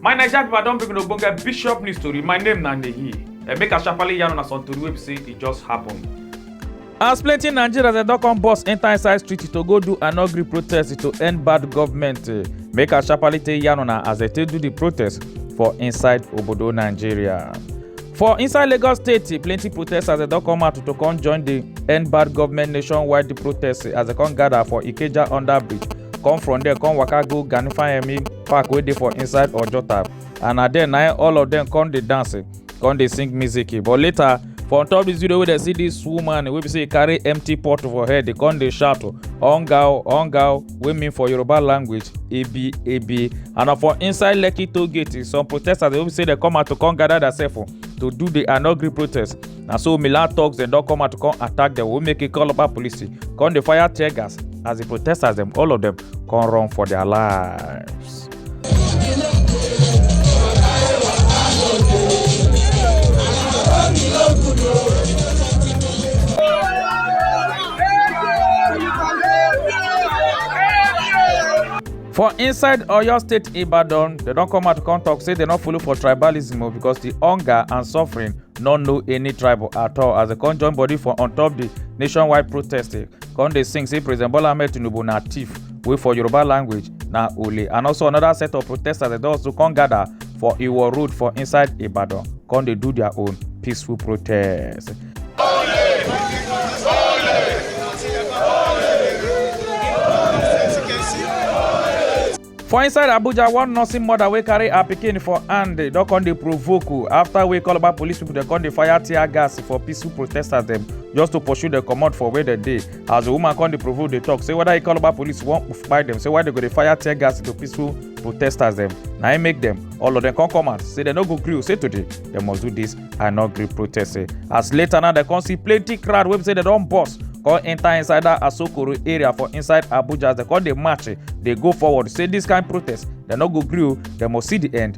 my naija pipo i don bring una ogbonge bishop news tori my name na nehi and make i sharparly yarn una some tori wey be say e just happen. as plenty nigerians dem don come burst enter inside street to go do an angry protest to end bad government make i sharparly take yarn una as dem take do di protest for inside obodo nigeria. For inside Lagos State, plenty protesters they don come out to come join the end bad government nationwide the protest as they come gather for Ikeja under bridge. Come from there, come waka go Ganifayemi Park wey dey for inside Ojota. And na there na all of them come dey dance, come dey sing music. But later, for on top this video wey dem see this woman wey be say e carry empty pot for head, dey come dey shout, "Hunger o, hunger o." wey mean for yoruba language ebi ebi and na for inside lekki toll gate some protesters dey hope say dem come out to come gather themselves oh, to do the anogri protest na so milan thugs dem don come out to come attack dem wey make e call local police come dey fire tear gas as the protesters dem all of dem come run for their lives. For inside Oyo State Ibadan, they don come out come talk say they no follow for tribalism o because the hunger and suffering no know any tribal at all as they come join body for on top the nationwide protest. Come dey sing say President Bola Ahmed Tinubu na thief. wey for yoruba language na ole and also another set of protesters dem don also come gather for iwo road for inside ibadan come dey do their own peaceful protest. for inside abuja one nursing mother wey carry her pikin for hand don come dey provoke o after wey call about police people dem come dey fire tear gas for peaceful protesters dem just to pursue dem comot for where dem dey as the woman come dey provoke dey talk say whether e call about police wan kpai dem say why dem go dey fire tear gas into peaceful protesters dem na im make dem all of dem come come out say dem no go gree o say today dem must do this and not gree protest say as later now dem come see plenty crowd wey be say dem don burst come enter inside that asokoro area for inside abuja as dem come dey march dey go forward say this kind protest dem no go gree o dem must see the end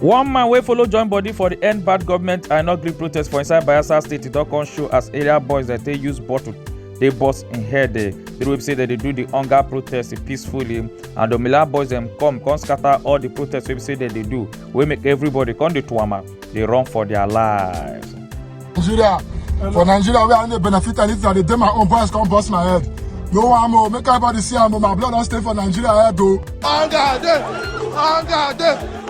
one man wey follow join body for di end bad government i no gree protest for inside bayelsa state e don come show as area boys dey take use bottle dey burst im head dey the way say dem dey do the hunger protest peacefully and the miller boys dem come come scatter all the protest wey be say dem dey do wey make everybody come dey tuama dey run for their lives. nigeria for nigeria wey i no dey benefit anything i dey dey my own boys come burst my head no am o make everybody see am o my blood don stay for nigeria head o. hunger dey hunger dey.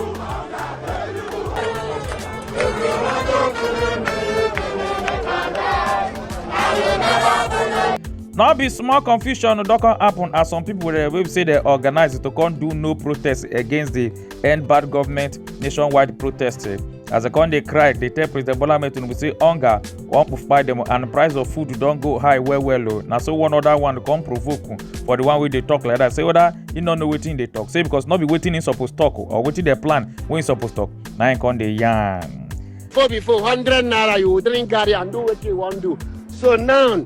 no be small confusion don come happen as some pipo wey be say dem organise to come do no protest against di end bad government nationwide protest as dem come dey cry dey tell president bola ahmed tinubu say hunger wan kpai dem and price of food don go high well well o na so one other one come provoke um, for the one wey dey talk like that say whether he no know wetin he dey talk say because no be wetin he suppose talk o, or wetin dem plan wey he suppose talk na him come dey yarn. Before before, 100 naira, you will drink garri and do what you want to do. So now,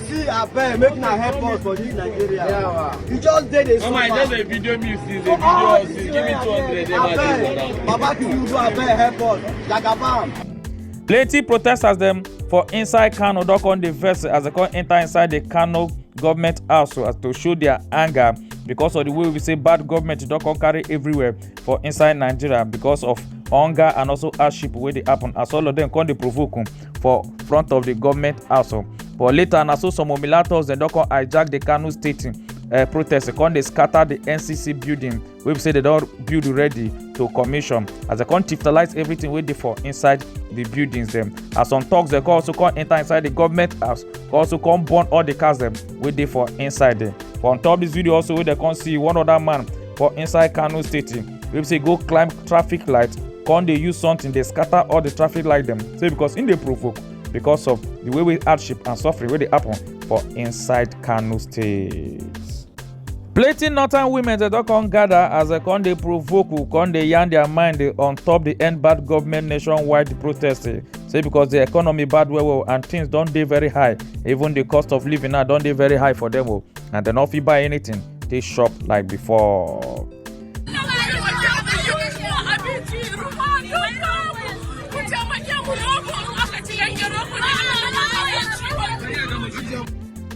See abeg make una help us for this Nigeria. Yeah, we just dey dey suffer. Mama, I just dey video me see the video us see give me two hundred dem as dey go down. Baba Tinubu abeg help us. Jagabam. Plenty protesters dem for inside Kano don come dey vex as dem come enter inside the Kano government house as to show their anger because of the way we say bad government don come carry everywhere for inside Nigeria because of hunger and also hardship wey dey happen as all of them come dey provoke. for front of di goment house oh. but later na so some omilators dem don come hijack di kano state uh, protest come dey scatter the ncc building wey be say they don build ready to commission as they come chiftalize everything wey dey for inside the buildings dem as some talks dem come also come enter inside the government house come also come burn all the cars dem wey dey for inside there for on top this video also wey dem come see one other man for inside kano state wey be say go climb traffic light come dey use something dey scatter all the traffic light dem say because im dey provoke because of the way wey hardship and suffering wey dey happen for inside kano state. plenty northern women dem don come gather as dem come dey provoke who come dey yarn their mind dey on top the end bad government nationwide protest eh, say because the economy bad well well and things don dey very high even the cost of living now don dey very high for them o oh, and dem no fit buy anything take shop like before.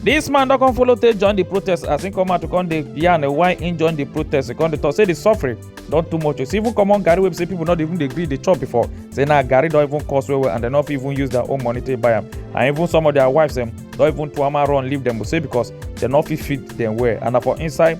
This man don come follow take join the protest as he come out to come dey yarn why he join the protest. He come dey talk say the suffering don too much. You see even common garri wey be say people no dey even dey gree dey chop before. Say na garri don even cost well well and dem no fit even use their own money take buy am. And even some of their wives dem don even tuama run leave dem say because dem no fit feed dem well and na for inside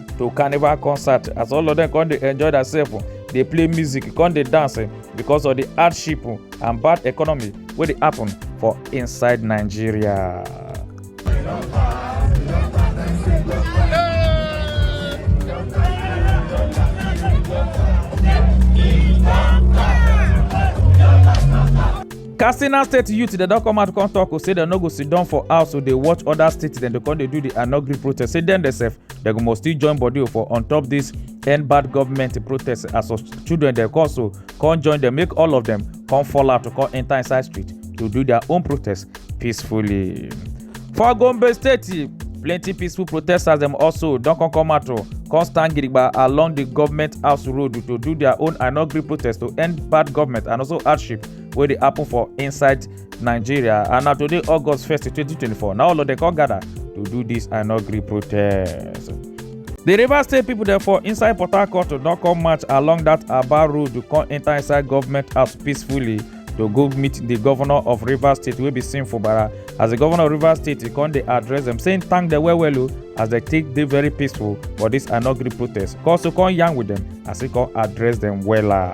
to carnival concert as all of them come dey enjoy themselves oh, dey play music come dey dance eh, because of the hardship oh, and bad economy wey dey happen for inside nigeria. katsina state youth dem don come out come talk o oh, say dem no go sit down for house o oh, dey watch other states dem dey come dey do the anogri protest say dem themselves dem go must still join body for on top this end bad government protest as some children dem come so come join dem make all of dem come fall out to come enter inside street to do their own protest peacefully. for gombe state plenty peaceful protesters dem also don come come out to come stand gidigba along the government house road to do their own i no gree protest to end bad government and also hardship wey dey happen for inside nigeria and na today august 1st 2024 na all of dem come gather to do dis i no gree protest di rivers state pipo dem for inside port harcourt don come march along dat aba road to come enta inside government house peacefully to go meet di governor of rivers state wey be sim fubara as di governor of rivers state e come dey address dem saying thank dem well well o as dem take dey very peaceful for dis i no gree protest come so come yarn with dem as e come address dem wella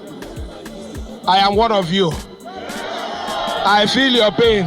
I am one of you. I feel your pain.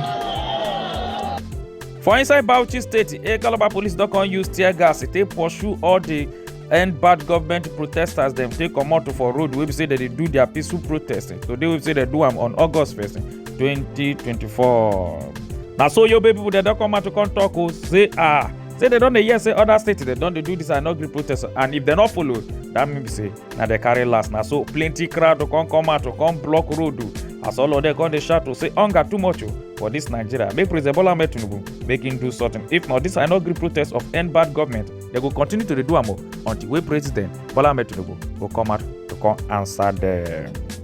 for inside bauchi state a calabar police don come use tear gas take pursue all the end bad government protesters dem take comot for road wey be say dem dey do their peaceful protest today wey be say dem do am on august first twenty twenty four na so yobe people dem don come out to come talk o say ah say dem don dey hear say other states dem don dey do this anogri protest and if dem no follow that mean be say na dey carry last na so plenty crowd to come come out to come block road o as all of them come dey shout to say hunger too much o for this nigeria make president bola ahmed tinubu make him do something if not this i no gree protest of end bad government they go continue to dey do am o until wey president bola ahmed tinubu go come out to come answer them.